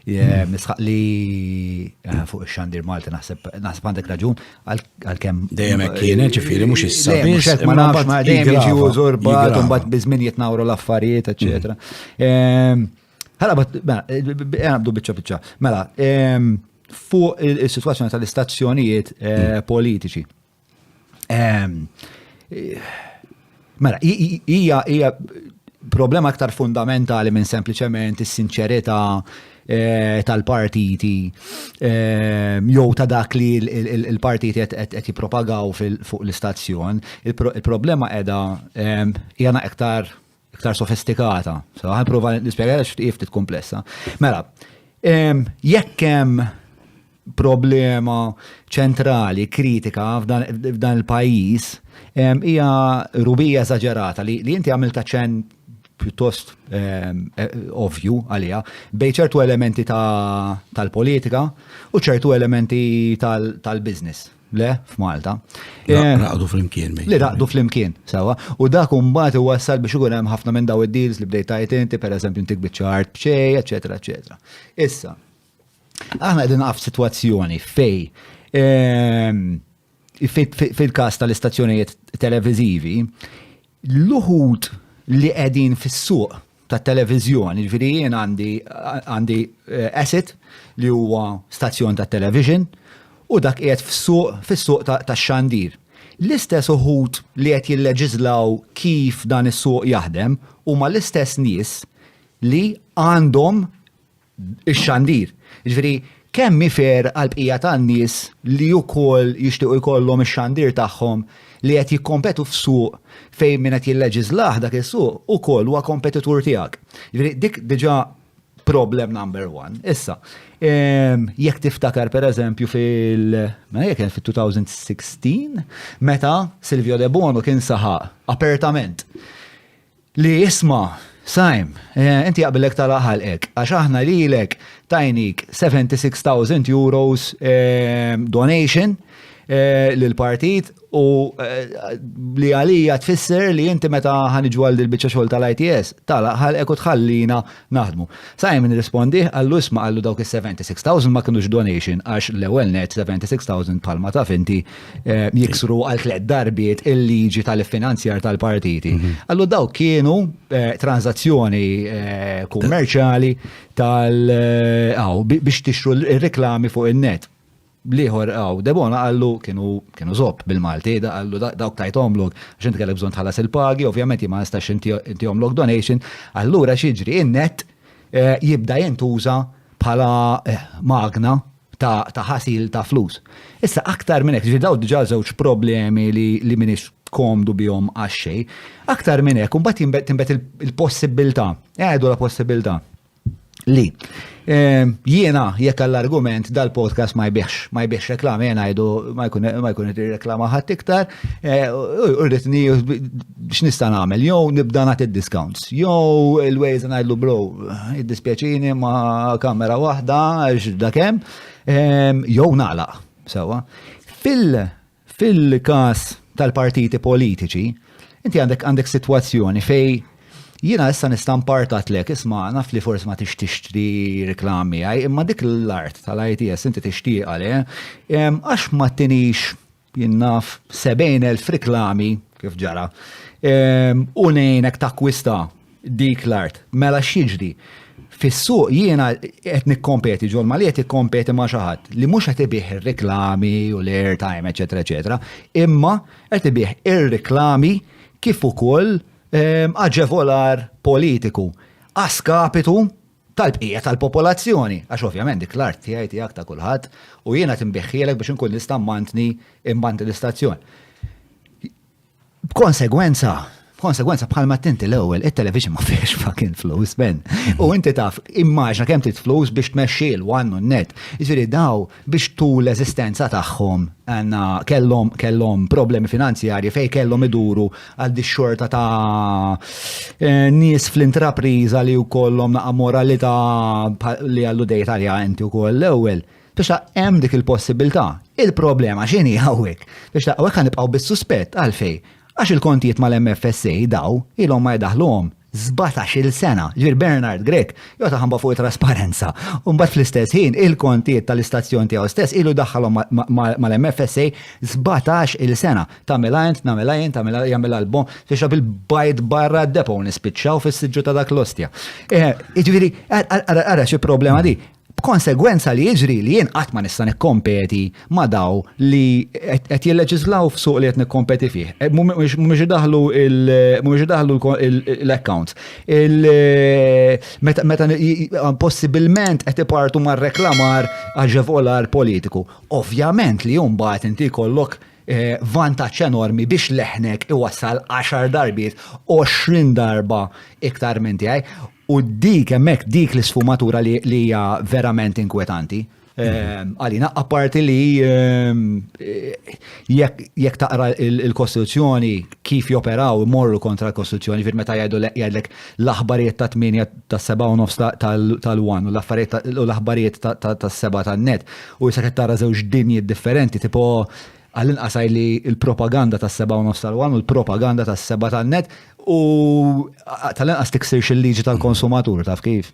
Nisħaq li eh, fuq ix-xandir Malti naħseb naħseb għandek raġun għalkemm dejjem hekk kien eh, ġifieri mhux issa biss ma nafx ma dejjem jiġi użurbat u mbagħad biżmin jitnawru l-affarijiet eċetera. Mm. Ehm, ħala bat għabdu eh, biċċa biċċa. Mela, ehm, fuq is-sitwazzjoni tal-istazzjonijiet mm. politiċi. Ehm, mela, hija hija problema aktar fundamentali minn sempliċement is-sinċerità eh, tal-partiti eh, jew ta' dak li l-partiti qed jippropagaw fuq l-istazzjon. Il-problema qiegħda eh, hija aktar iktar sofistikata. So, għan prova nispjega għax ftit komplessa. Mela, jekk hemm problema ċentrali, kritika f'dan il-pajis, hija rubija eżagerata li inti għamilta ċen pjuttost eh, ovju għalija, bej ċertu elementi tal-politika u ċertu elementi tal-biznis. Le, f'Malta. Raqdu fl-imkien. Li raqdu fl-imkien, sawa. U dak umbat u wassal biex ikun hemm ħafna minn daw id-deals li bdejt tajt inti, per eżempju, intik biċċart bċej, eccetera, eccetera. Issa, aħna qegħdin naqaf situazzjoni fej ehm, fil-kas tal-istazzjonijiet televizivi, L-uħud li qegħdin fis-suq ta' televiżjoni, ġifieri jien għandi għandi eh, asset li huwa stazzjon ta' television u dak qiegħed fis-suq fis-suq ta' xandir. L-istess uħud li qed jilleġiżlaw kif dan is-suq jaħdem huma l-istess nies li għandhom ix-xandir. Jiġifieri kemm hi fair għall-bqija tan-nies li wkoll jixtiequ jkollhom ix-xandir tagħhom li qed jikkompetu f'suq fejn min qed jilleġiżlah dak is-suq ukoll huwa kompetitur tiegħek. Jiġifieri dik diġà problem number one. Issa, jekk tiftakar pereżempju fil-, mela jekk kien fit-2016, meta Silvio Debono kien saħaq apertament Li isma', Saim, inti jaqbillek tagħlaq ħalqek, għax aħna lilek tajnik 76,000 euros donation lill-partit u li għalija tfisser li inti meta ħa niġu għal dil-biċċa xogħol tal-ITS, tagħlaq ħalqek u tħallina Naħdmu. Sakemm nirrispondih, qallu isma' qallu dawk is-76,000 ma kinux donation għax l-ewwel net 76,000 bħalma taf inti eh, jiksru għal tliet darbiet il-liġi tal-finanzjar tal-partiti. Mhm. Qallu dawk kienu eh, transazzjoni eh, kummerċjali tal biex tixru r-reklami fuq in-net. Bl-ieħor hawn Debona qallu kienu kienu żopp bil-Malti, da qallu da- dawk tajthomlok għax inti kellek bżonn tħallas il-pagi, ovvjament jien ma nistax inti- intihomlok donation, allura x'jiġri? In-nett eh, jibda jintuża bħala eh, magna ta' ta' ħasil ta' flus. Issa aktar minn hekk, ġifieri daw diġà żewġ problemi li li m'iniex komdu bihom għax xejn. Aktar minn hekk, imbagħad jinbet- tinbet il- il-possibilità, għedu la possibilità li ehm, jiena jekk għall-argument dal-podcast ma jbiex, ma jbiex reklam, jena jdu ma jkun id reklama ħadd iktar, eh, u rritni x'nista' nagħmel, jew nibda nagħti discounts, jew il-ways ngħidlu bro, id-dispjaċini ma' kamera waħda għax dakem, ehm, jew nagħlaq, sewa. Fil- Fil-każ tal-partiti politiċi, inti għandek għandek sitwazzjoni fejn jiena issa nista' mpartatlek isma' naf li forsi ma tix tixtri reklam miegħi, imma dik l-art tal-ITS inti tixtieqha le, għax ma tinix jien naf 70,000 reklami kif ġara u ngħinek takkwista dik l-art. Mela x'jiġri? Fis-suq jiena qed nikkompeti ġol Mali qed ikkompeti ma' xi ħadd li mhux qed ibih ir-reklami u l-airtime eċetera eċetera, imma qed ibih ir-reklami kif ukoll ehm, aġevolar politiku a skapitu tal-bqija tal-popolazzjoni. Għax ovvjament dik l-art tiegħi tiegħek ta' kulħadd u jiena tinbiħħielek biex inkun nista' mmantni mmantni l-istazzjon. B'konsegwenza, Konsegwenza bħalma tinti l-ewwel it-television ma fiex fucking flus ben. U inti taf immaġna kemm trid flus biex tmexxi l-wan u net. Jiġifieri daw biex tu l-eżistenza tagħhom għandna kellhom kellhom problemi finanzjarji fejn kellhom iduru għal di xorta ta' eh, nies fl-intrapriża li wkollhom naqa' moralità li għallu dejja talja inti wkoll l-ewwel. Biex ta' hemm dik il-possibilità. Il-problema x'inhi hawnhekk? Biex ta' hawnhekk ħanibqgħu bis-suspett għalfejn? Għax il-kontijiet mal-MFSA daw ilhom ma jdaħħluhom sbatax-il sena. Ġifieri Bernard Grech joqgħod iħambaħ fuq it-trasparenza u mbagħad fl-istess ħin il-kontijiet tal-istazzjon tiegħu stess ilu jdaħħalhom mal-MFSA sbatax-il sena. Tagħmilha int, nagħmilha jien, tagħmilha jagħmilha l-bogħ, biex ta' bil-bajd barra d-depot u nispiċċaw fis-siġġu ta' dak l-ostja. Jiġifieri ara xi problema din. b'konsegwenza li jiġri li jien qatt ma nista' nikkompeti ma' daw li qed jilleġislaw f'suq li qed nikkompeti fih. Eh, mhumiex idaħlu mhumiex idaħlu l-accounts. Eh, meta possibilment qed ipartu mar-reklamar aġevolar politiku. Ovvjament li mbagħad inti jkollok eh, vantaġġ enormi biex leħnek iwassal 10 darbiet 20 darba iktar minn tiegħi U dik hemmhekk dik l-isfumatura li hija verament inkwetanti. Ehm, għalina, apparti li ehm, jekk taqra il-Kostituzzjoni kif joperaw morru kontra l-Kostituzzjoni, fir meta jgħidu jgħidlek l-aħbarijiet ta' 8 ta' 7 u nofs tal-1 u l-aħbarijiet ta' 7 tan-net u jisa tara żewġ dinji differenti, tipo Għall-inqas għidli l-propaganda tas-sebgħa u nofs tal-one u l-propaganda tas-sebgħa tan-net u tal-inqas tiksirx il-liġi tal-konsumatur taf kif.